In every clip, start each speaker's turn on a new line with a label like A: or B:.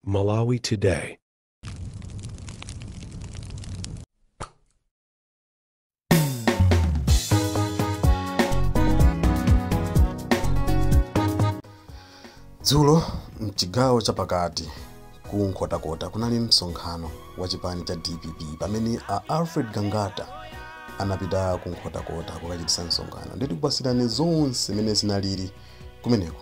A: Malawi
B: Today. dzulo mchigawo chapakati ku nkhotakota kunali msonkhano wa chipani cha dpp pamene a alfred gangata anapita ku nkhotakota kukachititsa msonkhano ndi tikupatsirani zonse mmene zinalili kumeneko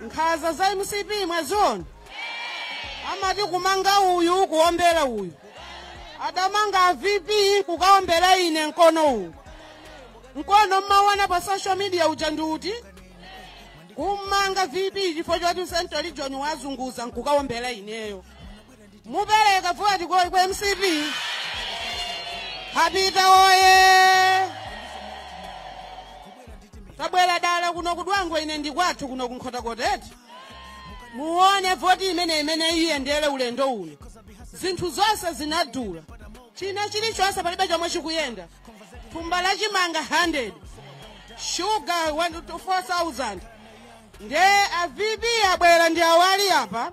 C: nkhaza za mcp mwaziona amati kumanga uyu kuombera uyu adamanga vp kukaombera ine mkono uwu mkono mmaona pa social media uja ndi uti kummanga vp chifukwa choti central region waizunguza nkukaombera ineyo mupereka voti kwa kwa mcp apita woye tabwera dala kuno ku dwangwa ine ndi kwathu kuno ku nkhotakota kuti muone voti imene imene iyendere ulendo uno zinthu zonse zinadula china chilichonse palibe chomwe chikuyenda thumba la chimanga 100 shuga 4000 nde a vp abwera ndi awa ali apa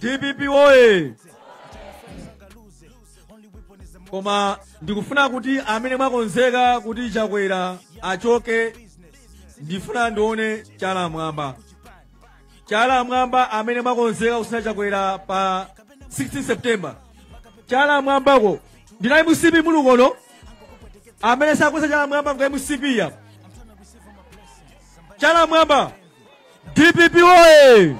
D: dpp woye koma ndikufuna kuti amene mwakonzeka kuti chakwera achoke ndifuna ndione chala mwamba chala mwamba amene mwakonzeka kutsina chakwera pa 16 september chala mwambako ndinu a mcp muli kuno amene sakweza chala mwamba nga mcp ya chala mwamba dpp woye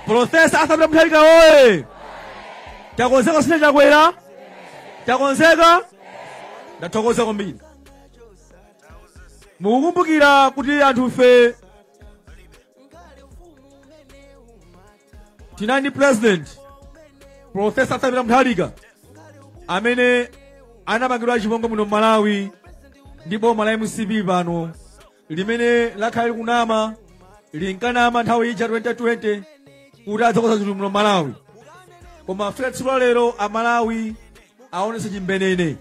D: profesa arthur peter mutharika woye takonzeka kutsina chakwera takonzeka ndathokoza kwambiri mukukumbukira kuti anthufe tinali ndi president profesa arthur peter mutharika amene anapangidwa chipongwe muno m'malawi ndi boma la mcp pano limene lakhala likunama linkanama nthawi ija 2020 kuti adzakonza zinthu muno malawi koma afika tsiku la lero amalawi aonetsa chimbenene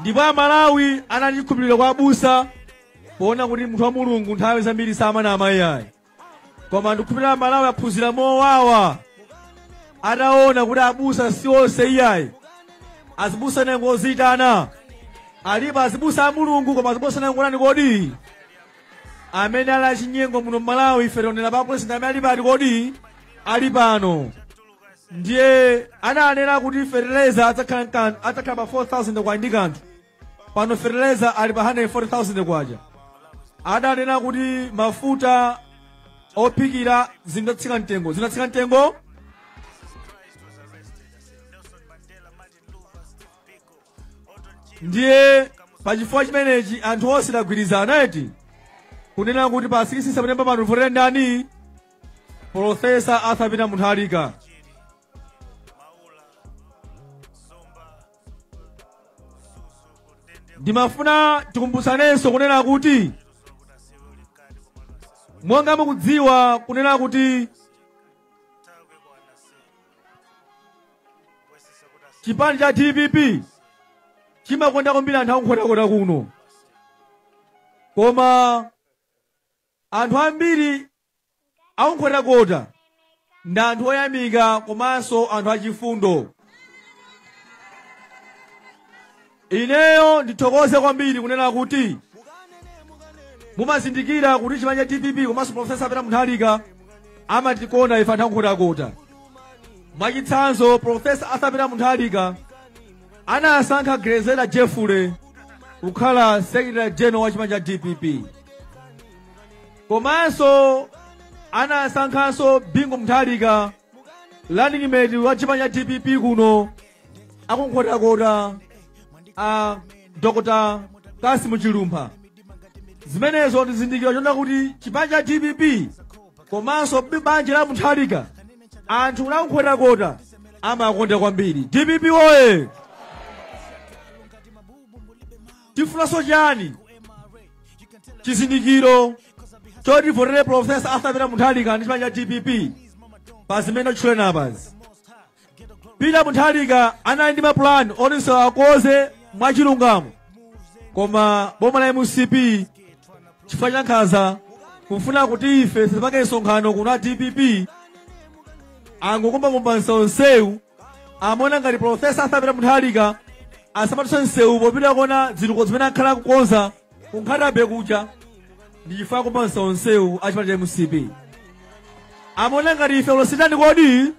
D: ndipo amalawi anali chikhulupiriro kwa abusa poona kuti munthu wa mulungu nthawi zambiri samanama iyayi koma ndikukhulupirira amalawi aphunzira mowawa ataona kuti abusa si onse iyayi azibusa ena ngozitana alipo azibusa a mulungu koma azibusa ena ngotani kodi amene ali achinyengo muno mmalawi ife taonera pa president amene ali pati kodi ali pano ndiye ananena kuti fertilizer adzakhala pa 4000 kwacha ndi kanthu pano fertilizer ali pa 140,000 kwacha adanena kuti mafuta ophikira zidzatsika mtengo zinatsika mtengo ndiye pachifukwa chimenechi anthu onse tagwirizana eti kunena kuti pa 6 september pano timvotera ndani profesa arthur peter mutharika ndimafuna tikumbutsanenso kunena kuti monga mukudziwa kunena kuti chipani cha dpp chimakonda kwambiri anthu a nkhotakota kuno koma Anthu ambiri a ku Nkhotakota ndi anthu oyamika komanso anthu achifundo. Ineyo ndithokoze kwambiri kunena kuti mumazindikira kuti chipani cha dpp komanso profesa peter mutharika amatikonda ife anthu a nkhotakota mwachitsanzo profesa arthur peter mutharika anasankha grezelder jeffrey kukhala secretary general wa chipani cha dpp komanso anasankhanso bingu mutharika running mate wa chipani cha dpp kuno a ku nkhotakota a dr cassim chilumpha zimenezo ndi chizindikiro chonena kuti chipani cha dpp komanso banja la mutharika anthu a ku nkhotakota amakonda kwambiri dpp oye tifunanso chani chizindikiro choti tivotere profesa arthur peter mutharika ndi chipani cha dpp pa zimene ndatchula apazi peter mutharika anali ndi mapulani oti msewu akonze mwachilungamo koma boma la mcp chifukwa cha nkhanza kufuna kuti ife tisapange msonkhano kuno a dpp angokumbakumba msewu amaona ngati profesa arthur peter mutharika asamadutse msewu popita kukaona zitukuko zimene akhala akukonza ku nkhata bay kuja ndi chifukwa akumba msewu a chipani cha mcp amaona ngati ife alose tani kodi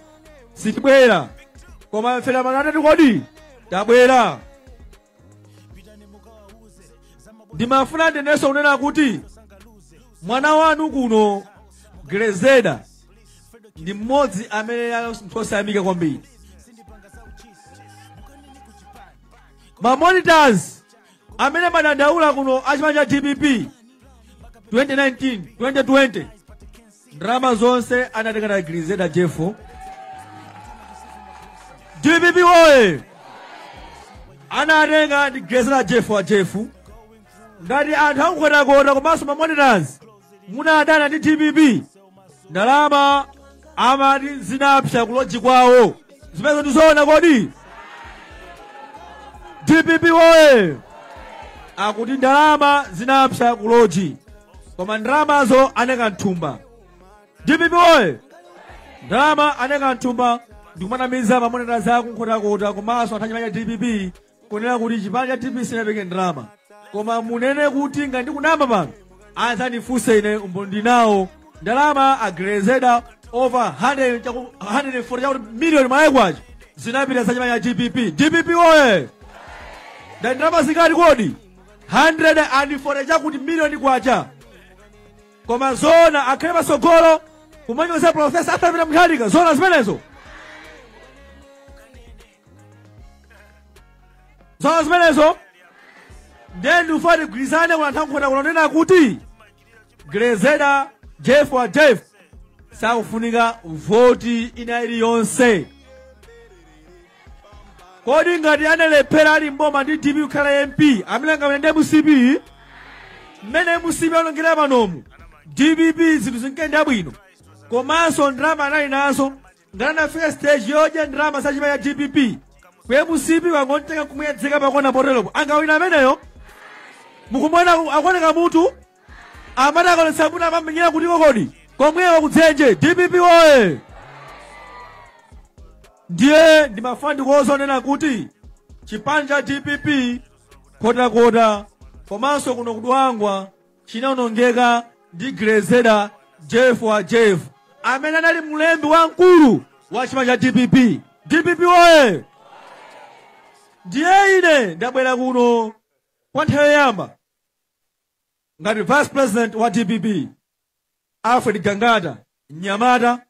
D: sitibwera koma ife alomwe tani kodi tabwera ndimafuna ndinenenso kunena kuti mwana wanu kuno grezelder ndi mmodzi amene ali munthu osayamika kwambiri mamonitors amene amadandaula kuno a chipani cha dpp 2019 2020 ndalama zonse anatenga ndi a Grezelder Jeffrey. DPP woye! Anatenga ndi Grezelder Jeffrey wa Jeffrey. Ngati anthu aku Nkhotakota komanso mamonitors munadana ndi DPP ndalama amati zinapsa kuloji kwawo zimenezo ndizoona kodi dpp woye akuti ndalama zinapsa kuloji koma ndalamazo anaika mthumba dpp oye ndalama anaika mthumba ndikumanamiza mamonitors aku Nkhotakota komanso anthu achipani cha dpp kunena kuti chipani cha dpp sinapereke ndalama koma munene kuti ngati ndikunama pano adzandifunse ine umboni ndinawo ndalama a Grezelder over 100 chaku- 140 chakuti miliyoni Malawi kwacha zinapita za chipani cha dpp dpp oye ndalama zingati kodi 140 chakuti miliyoni kwacha koma zoona akhale patsogolo kumanyoza profesa Arthur Peter Mutharika zoona zimenezo zoona zimenezo ndiye ndikufuna tigwirizane kuna nthawi nkhota kunena kuti Grezelder Jeffrey wa Jeffrey sakufunika voti ina iliyonse kodi ngati analephera ali mboma ndi dpp kukhala mp amene angawine ndi mcp mmene mcp aonongera panomu dpp zinthu zinkayenda bwino komanso ndalama anali nazo ngati anafika stage yodya ndalama za chipani cha dpp ku mcp wangontenga kumuyedzeka pakona poteropo angawina ameneyo mukumuona akuoneka mutu amati akaonetsa mutu amamenyera kuti kokodi komwewa kudzenje dpp woye ndiye ndimafuna ndikuuze zonena kuti chipani cha dpp Nkhotakota komanso kuno ku Dwangwa chinaonongeka ndi Grezelder Jeffrey wa Jeffrey amene anali mlembi wamkulu wa chipani cha DPP. DPP oye! Ndiye ine ndabwera kuno kwa nthawi yoyamba ngati vice president wa DPP Alfred Gangata mnyamata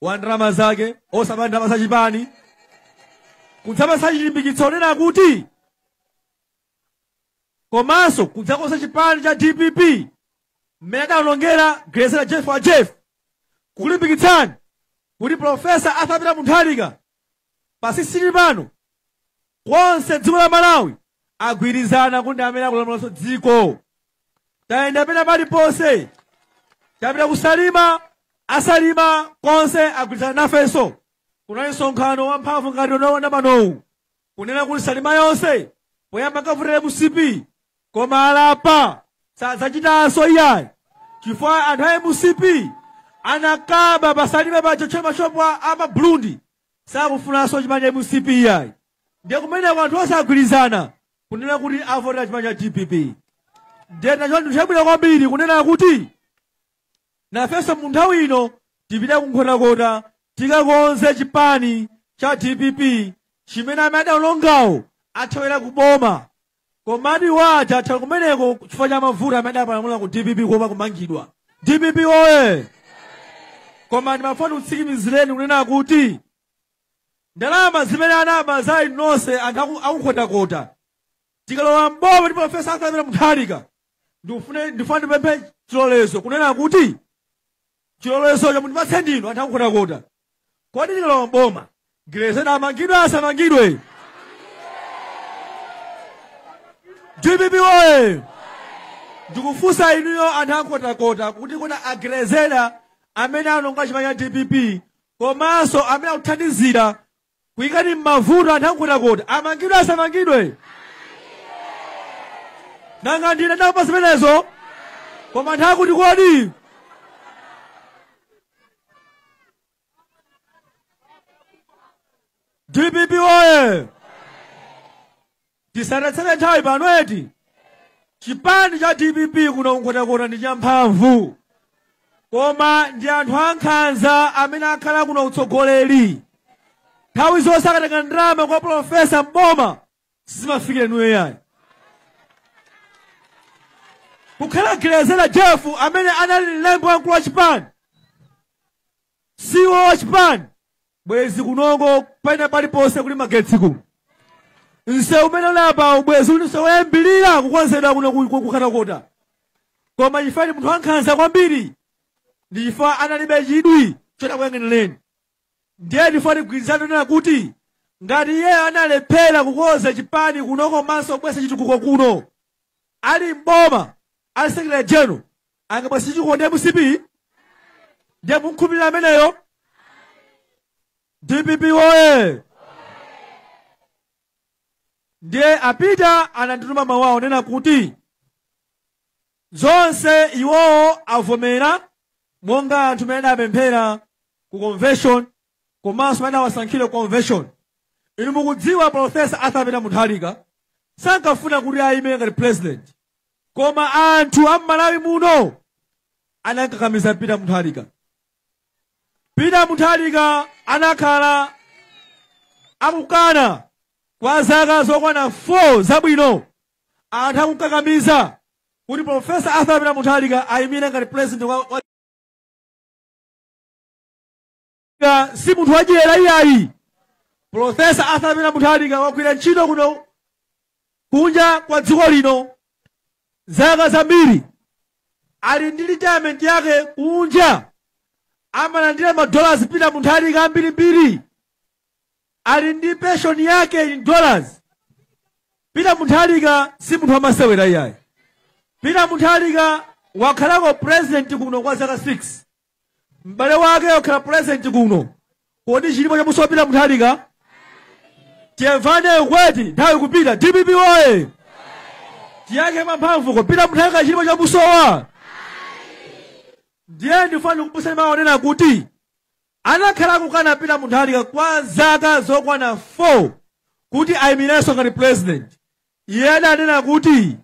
D: wa ndalama zake osaba ndalama za chipani kudzapatsa chilimbikitso onena kuti komanso kudzakonza chipani cha dpp mmene adaonongera Grezelder Jeffrey wa Jeffrey kukulimbikitsani kuti profesa Arthur Peter Mutharika pa 16 pano konse dziko la malawi agwirizana kuti ndi amene akulamulanso dziko tayenda pena paliponse tapita ku Salima a Salima konse agwirizana nafenso kunali msonkhano wamphamvu ngati unaona panowu kunena kuti salima yonse poyamba ankavotera mcp koma alapa sadzachitanso iyayi chifukwa anthu a mcp anakaba pasalima pacho tchera mashopu a a maburundi sakufunanso chipani cha mcp iyayi ndiye kumeneko anthu onse agwirizana kunena kuti avotera chipani cha dpp ndiye nacho ndi chabwino kwambiri kunena kuti nafenso mu nthawi ino tipite ku nkhotakota tikakonze chipani cha dpp chimene amene adaonongawo athawira ku boma komadi waja athawira kumeneko chifukwa cha mavuto amene adapalamula ku dpp kuopa kumangidwa dpp oye koma ndimafuna ndikutsimikizireni kunena kuti ndalama zimene anaba za inu nonse anthu aku- akunkhotakota tikalowa mboma ndi profesa arthur peter mutharika ndikufune ndifuna ndipemphe chilolezo kunena kuti chilolezocho mundipatse ndinu anthu akunkhotakota kodi tikalowa mboma grezelder amangidwe asamangidwe dpp oye ndikufunsa inuyo anthu akunkhotakota kuti kodi a grezelder amene anaononga chipani cha dpp komanso amene akuthandizira kuyikani m'mavuto anthu a nkhotakota amangidwe asamangidwe nanga ndine ndapanga zimenezo koma anthu akuti kodi dpp oye Tisatayitsane nthawi pano eti chipani cha dpp kuno kunkhotakota ndi champhamvu koma ndi anthu ankhanza amene akhala kuno ku utsogoleri nthawi zonse akatenga ndalama kwa profesa mboma sizimafikira inuyo iyayi kukhala grezelder jeff amene anali mlembi wamkulu wa chipani ceo wa chipani bwezi kunoko pena paliponse kuli magetsi kuno msewu umene uli apawu bwezi uli msewu woyambirira kukonzedwa kuno ku- ku- kunkhotakota koma chifukwa ndi munthu wankhanza kwambiri ndi chifukwa analibe chidwi choti akuyang'anireni ndiye chifukwa tigwirizane kunena kuti ngati iyeyo analephera kukonza chipani kuno komanso kubweretsa chitukuko kuno ali mboma ali secretary general angabweretse chitukuko ndi a mcp ndiye mumkhulupirira ameneyo dpp woye ndiye a peter anandituma mawu awo kunena kuti zonse iwowo avomera monga anthu amene adawapemphera ku convention komanso amene anawasankhira ku convention inu mukudziwa profesa arthur peter mutharika sankafuna kuti ayime ngati president koma anthu a m'malawi muno adakakamiza peter mutharika peter mutharika anakhala akukana kwa zaka zokwana 4 zabwino anthu akukakamiza kuti profesa arthur peter mutharika ayimire ngati president wa, wa Nga si munthu wadyera iyayi profesa arthur peter mutharika wagwira ntchito kuno kunja kwa dziko lino zaka zambiri ali ndi retirement yake kunja amalandira madollars peter mutharika ambirimbiri ali ndi pension yake in dollars peter mutharika si munthu wamasewera iyayi peter mutharika wakhalako president kuno kwa zaka 6 m'bale wake wakhala president kuno kodi chilipo chamusowa peter mutharika timvane ukweti nthawi ikupita dpp oye tiyankhe mwamphamvu ko peter mutharika chilipo chamusowa ndiye ndifuna ndikuuzeni mawu onena kuti anakhala akukana peter mutharika kwa zaka zokwana 4 kuti ayimirenso ngati president iye adanena kuti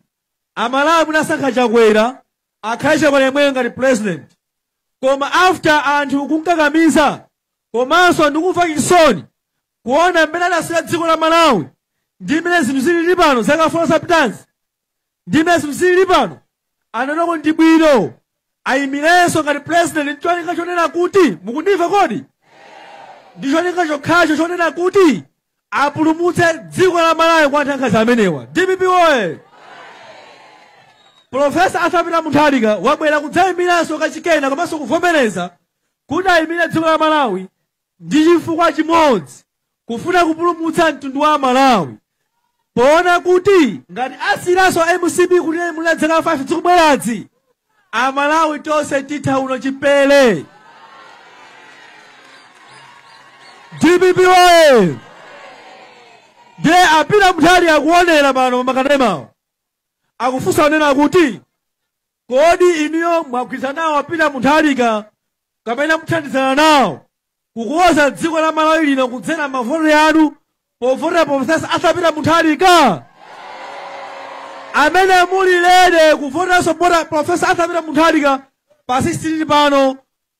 D: Amalawi munasankha Chakwera akhale Chakwera yemweyo ngati president koma after anthu kumkakamiza komanso ndi kumva chisoni kuona mmene adasiyira dziko la Malawi ndi mmene zinthu zilili pano zaka 4 zapitazi ndi mmene zinthu zilili pano anaona kuti ndi bwino ayimirenso ngati president ndi cholinga chonena kuti mukundimva kodi ndi cholinga chokhacho chonena kuti apulumutse dziko la malawi kwa anthu ankhanza amenewa dpp oye profesa arthur peter mutharika wabwera kudzayimiranso kachikena komanso kuvomereza kuti ayimire dziko la malawi Ndi chifukwa chimodzi kufuna kupulumutsa mtundu wa Malawi poona kuti ngati tisiyiranso mcp kutilamulira zaka 5 zikubwerazi, Amalawi tonse titha uno chipere. Dpp oye! Ndiye a Peter Mutharika akuonera pano pamakanemawo akufunsa onena kuti Kodi inuyo mwagwirizana nawo a Peter Mutharika kapena muthandizana nawo kukonza dziko la Malawi lino kudzera mavoti anu povotera Professor Arthur Peter Muntharika? Amene muli ready kuvoteranso bota Professor Arthur Peter Mutharika pa 16 pano